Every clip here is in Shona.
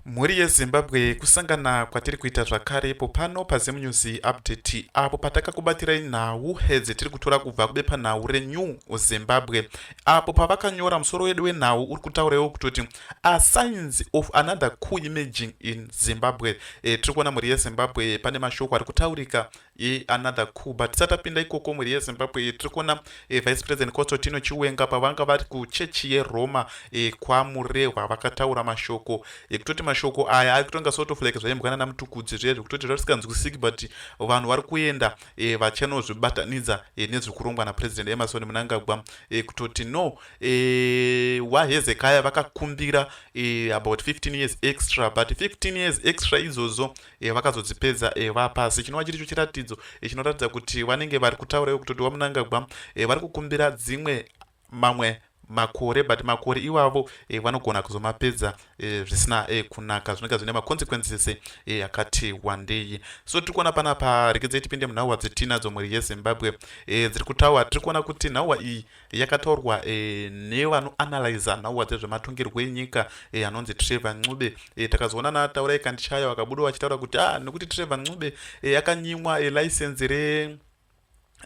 Mhuri yeZimbabwe kusangana kwatiri kuita zvakare ipo pano paZim News Update apo patakakubatirai nhau hedzi tiri kutora kubva kubepanhau reNew Zimbabwe apo pavakanyora musoro wedu wenhau uri kutauraiwo kutoti a signs of another coup emerging in Zimbabwe e, tiri kuona mhuri yeZimbabwe pane mashoko ari kutaurika ye another coup but tisati tapinda ikoko mhuri yezimbabwe e, tiri kuona e, vice president constantino chiwenga pavanga vari kuchechi yeroma e, kwamurehwa vakataura mashoko ekutoti mashoko aya ari kutonga sort of like zvaimbwana namutukudzi zviya zvekutoti zvatisinganzwisiki but vanhu vari kuenda e, vachanozvibatanidza e, nezviri kurongwa napresident emerson munangagwa e, kutoti no e, wahezekaya vakakumbira e, about 15 years extra but 15 years extra idzodzo e, vakazodzipedza e, vapasi chinova chiricho chiratidzo e, chinoratidza kuti vanenge vari kutaura ivo kutoti wamunangagwa e, vari kukumbira dzimwe mamwe makore but makore iwavo e, vanogona kuzomapedza e, zvisina e, kunaka zvinenge zvine maconsequences e, akati wandei so tiri kuona pana pa rekedze tipinde munhauwa dzetinadzo mhuri yezimbabwe e, dziri kutaura tiri kuona kuti nhauwa iyi yakataurwa e, nevanoanalyza nhauwa dzezvematongerwo enyika e, anonzi trevor ncube e, takazoona nataura ikandichaya vakabuda vachitaura kuti a ah, nekuti trevor ncube e, akanyimwa e, license re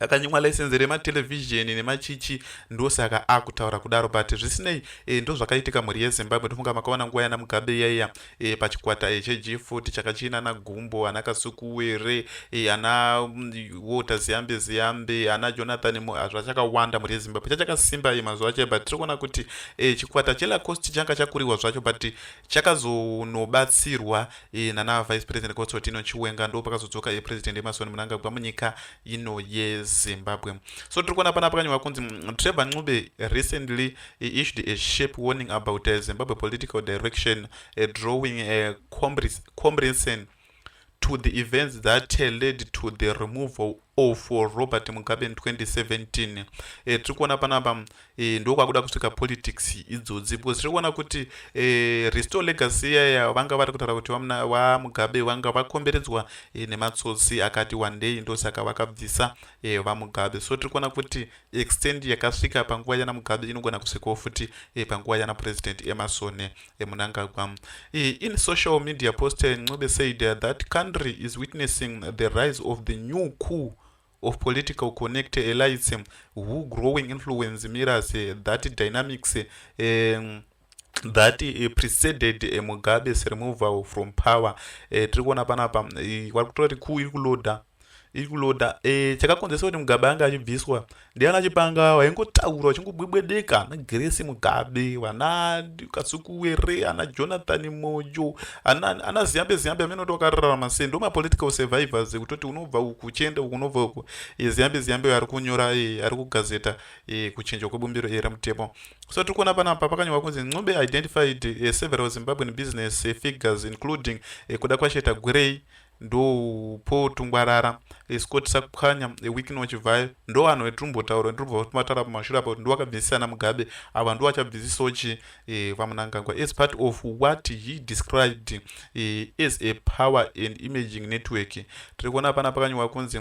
akanyimwa license rematelevhizheni nemachichi ndosaka akutaura kudaro but zvisinei e, ndozvakaitika mhuri yezimbabwe ndofunga makaona nguva yana mugabe iyaiya e, pachikwata e, cheGFOT chaka chiina ana Gumbo, ana Kasukuwere, e, ana mm, Walter Ziyambe Ziyambe, ana Jonathan Muhazva chakawanda mhuri yeZimbabwe chachakasimba e, mazuva acho but tiri kuona kuti e, chikwata cheLacoste changa chakuriwa zvacho but chakazonobatsirwa e, nana Vice President Constantino Chiwenga ndo pakazodzoka e, President Emerson Mnangagwa munyika ino yeZimbabwe. So tiri kuona pana pakanyorwa kunzi mm, Trevor Ncube recently He issued a sharp warning about uh, Zimbabwe political direction, uh, drawing a uh, comparison to the events that uh, led to the removal of uh, Robert Mugabe in 2017. Uh, tiri kuona panapa uh, ndo kwakuda kusvika politics idzodzi because tiri kuona kuti uh, restore legacy yaya vanga vari kutaura kuti vamugabe vanga vakomberedzwa uh, nematsotsi akati wandei ndosaka vakabvisa uh, vamugabe so tiri kuona kuti extend yakasvika panguva yana mugabe inogona kusvikawo futi e, panguva yana president emerson e, eh, munangagwa e, in social media post ncobe said eh, that country is witnessing the rise of the new coup of political connect elites who growing influence mirrors that dynamics um, that uh, preceded uh, mugabe's removal from power uh, tiri kuona panapa uh, vari kutora kuti kuu iri kuloda iri kuloda uh, chakakonzesa kuti mugabe ange achibviswa ndiana chipanga waingotaura uchingobwebwedeka ana gresi mugabe vana kasukuwere ana jonathan mojo ana, ana ziyambe ziyambe amene kuti wakararama sei ndo mapolitical survivors kutoti unobva uku uchienda uku unobva uku uh, ziyambe ziyambe ari kunyora uh, ari kugazeta e, kuchinjwa kwebumbiro iri remutemo so tiri kuona panapa pakanyorwa kunzi ncube identified e, several zimbabwean business e, figures including e, kuda kwasheta gwirei ndopo tungwarara scott sakukhanya wikino chivhayo ndo vanhu vetirumbotaura ndirubva vatara pamashura apo ndo vakabvisisana mugabe ava ndo vachabvisisawo chi eh, vamunangagwa as part of what he described eh, as a power and imaging network tiri kuona pana pakanyorwa kunzi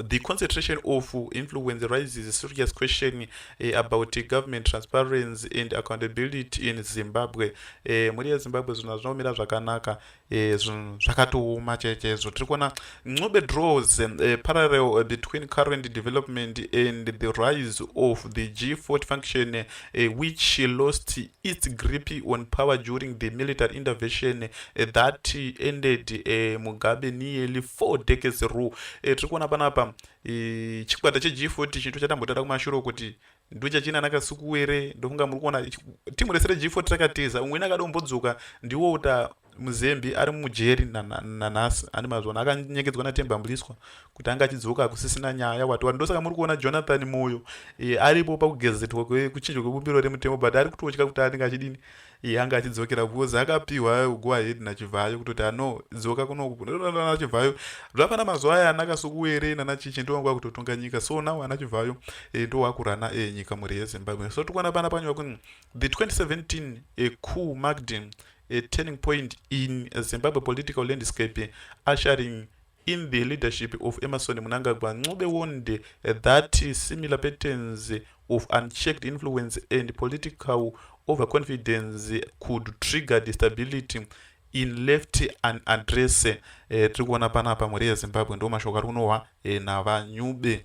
the concentration of influence raises a serious question uh, about government transparency and accountability in zimbabwe eh, mhuri yezimbabwe zvinhu hazvinaomira zvakanaka eh, zvinhu zvakatooma chaizvo tiri kuona ncube draws eh, parallel between current development and the rise of the g40 function uh, which she lost its grip on power during the military intervention uh, that ended uh, mugabe nearly four decades rule uh, tiri kuona panapa uh, chikwata cheg40 chinto chatambotara kumashure kuti ndochachina nakasukuwere ndofunga muri kuona timu rese reg40 rakatiza umweni akadombodzoka ndiwo uta muzembi ari mujeri nanhasi ane mazvona akanyengedzwa natemba mbuliswa kuti anga achidzoka hakusisina nyaya wati wati ndosaka muri kuona jonathan moyo e, aripo pakugezetwa kuchinjwa kwebumbiro remutemo but ari kutotya kuti anenge achidini e, anga achidzokera because akapiwa go ahead nachivhayo kutoti ano dzoka kunokunachivhayo zvafana mazuva aya anaka sokuwere nanachichi ndovangu vakutotonga nyika so now anachivhayo e, eh, ndowakurana e, nyika mhuri yezimbabwe so tikuona pana panyu vakunzi the 2017 e, cool magdin a turning point in Zimbabwe political landscape, ushering in the leadership of Emerson Munangagwa Ncube warned that similar patterns of unchecked influence and political overconfidence could trigger destability in left an address. Eh, tiri kuona panapa mhuri yezimbabwe ndo mashoko ari kunohwa eh, navanyube.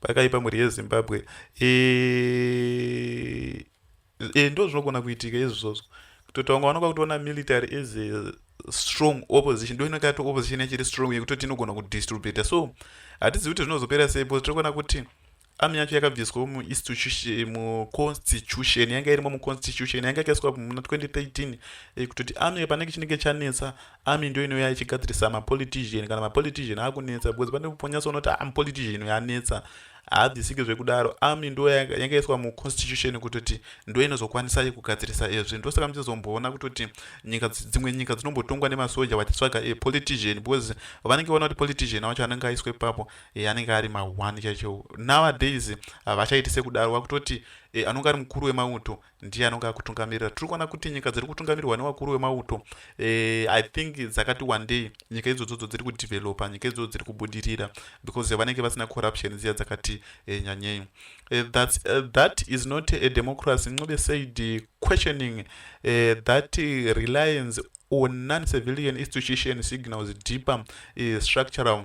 pakaipa mhuri yezimbabwe e, e, ndo zvinogona kuitika izvozvo kutoti vanga vanoka kutoona military as a strong opposition ndo inenge yato opposition yachiri strong yekutoti inogona kudistribute so hatizivi kuti zvinozopera sei bcause tiri kuona kuti ami yacho yakabviswa muconstitution yanga irimo muconstitution yanga yakaiswa muna 2013 eh, kutoti ami panenge chinenge chanetsa army ndo inouya ichigadzirisa mapolitician kana mapolitician akunetsa because pane ponyasa unoti am ah, politician yanetsa haadzisiki zvekudaro army ndo yangaiswa muconstitution kutoti ndo inozokwanisai kugadzirisa ezvi ndosaka muchizomboona kutoti nyika dzimwe nyika dzinombotongwa nemasoja vachitsvaga e politician because vanenge vaona kuti politician wacho anenge aiswa ipapo e, anenge ari mahwani chaicho nowadays vachaiti sekudaro vakutoti e, anonge ari mukuru wemauto ndiye anonge akutungamirira tiri kuona kuti nyika dziri kutungamirwa nevakuru vemauto eh, i think dzakati wandei nyika idzodzodzo dziri kudevelopa nyika idzodzo dziri kubudirira because vanenge vasina corruption dziya dzakati eh, nyanyei eh, thats uh, that is not a democracy ncube said uh, questioning uh, that uh, reliance on non civilian institution signals deeper uh, structural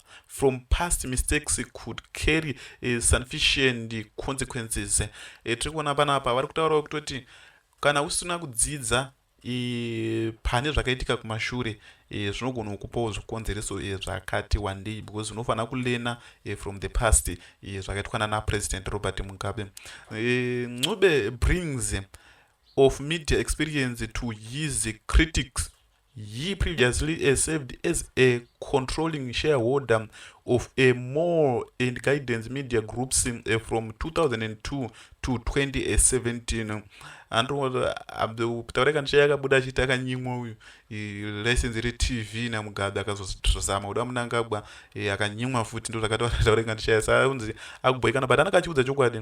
from past mistakes could carry uh, sufficient consequences uh, tiri kuona panapa vari kutaurawo kutoti kana usina kudzidza e, pane zvakaitika kumashure e, zvinogona kukupawo zvikonzereso e, zvakati wandei because unofanira kulena e, from the past e, zvakaitwa nana president robert mugabe e, ncube brings of media experience to his critics He previously uh, served as a controlling shareholder of a more and guidance media groups uh, from 2002 to 2017 andokutaura kandisha yakabuda achiti akanyimwa uyu license retv namugabe akazozama kuda munangagwa akanyimwa futi ndozvakataura kandishaya saunzi akuboikana but anaka achiudza chokwadi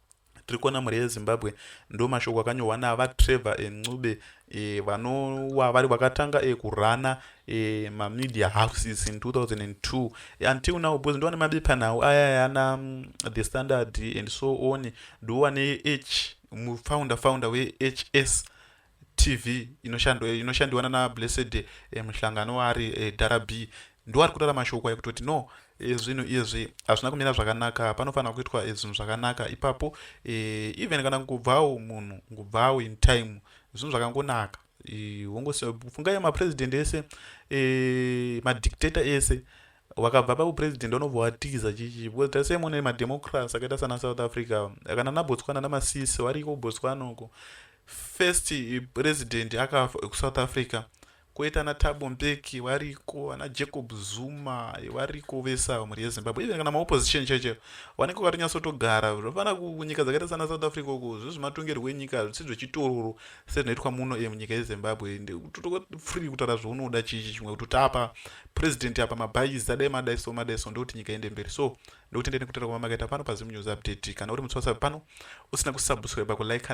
tiri kuona mhuri yezimbabwe ndo mashoko akanyorwa navatrevor eh, ncube eh, vanova vari vakatanga eh, kurana mamedia houses in 2002 until now because ndova nemabepanhau aya yana mm, the standard and so on ndova neh mufounder founder wehs tv inoshandiwa nana blessed eh, muhlangano waari eh, dara b ndiwo ari kutaura mashoko ayo kutoti no eh, zvinhu izvi hazvina kumira zvakanaka panofanira kuitwa eh, zvinhu zvakanaka ipapo eh, even kana ngubvawo munhu ngubvawo in time zvinhu zvakangonaka eh, wongofungai mapresident ese eh, madictator ese eh, wakabva paupresident unobva watiza chichi because tase mune mademocracy akaita sana south africa kana nabotswana namasisi variko botswana uko first president akafa ekusouth africa koita ana tabo mbeki variko ana jacob zuma variko vese avo mhuri yezimbabwe even kana maopposition chaicho vanenge vakatonyasotogara zvofana kunyika dzakaita sana south africa uko zvezvematongerwo enyika hazvisi zvechitororo sezvinoitwa muno e munyika yezimbabwe free kutaura zvaunoda chichi chimwe kuti tapa president apa mabhaizi adai madai so madai so ndokuti nyika ende mberi so ndokutendeni kutaura kwamamakaita pano pazim news update kana uri mutswasa pano usina kusubscribe kulike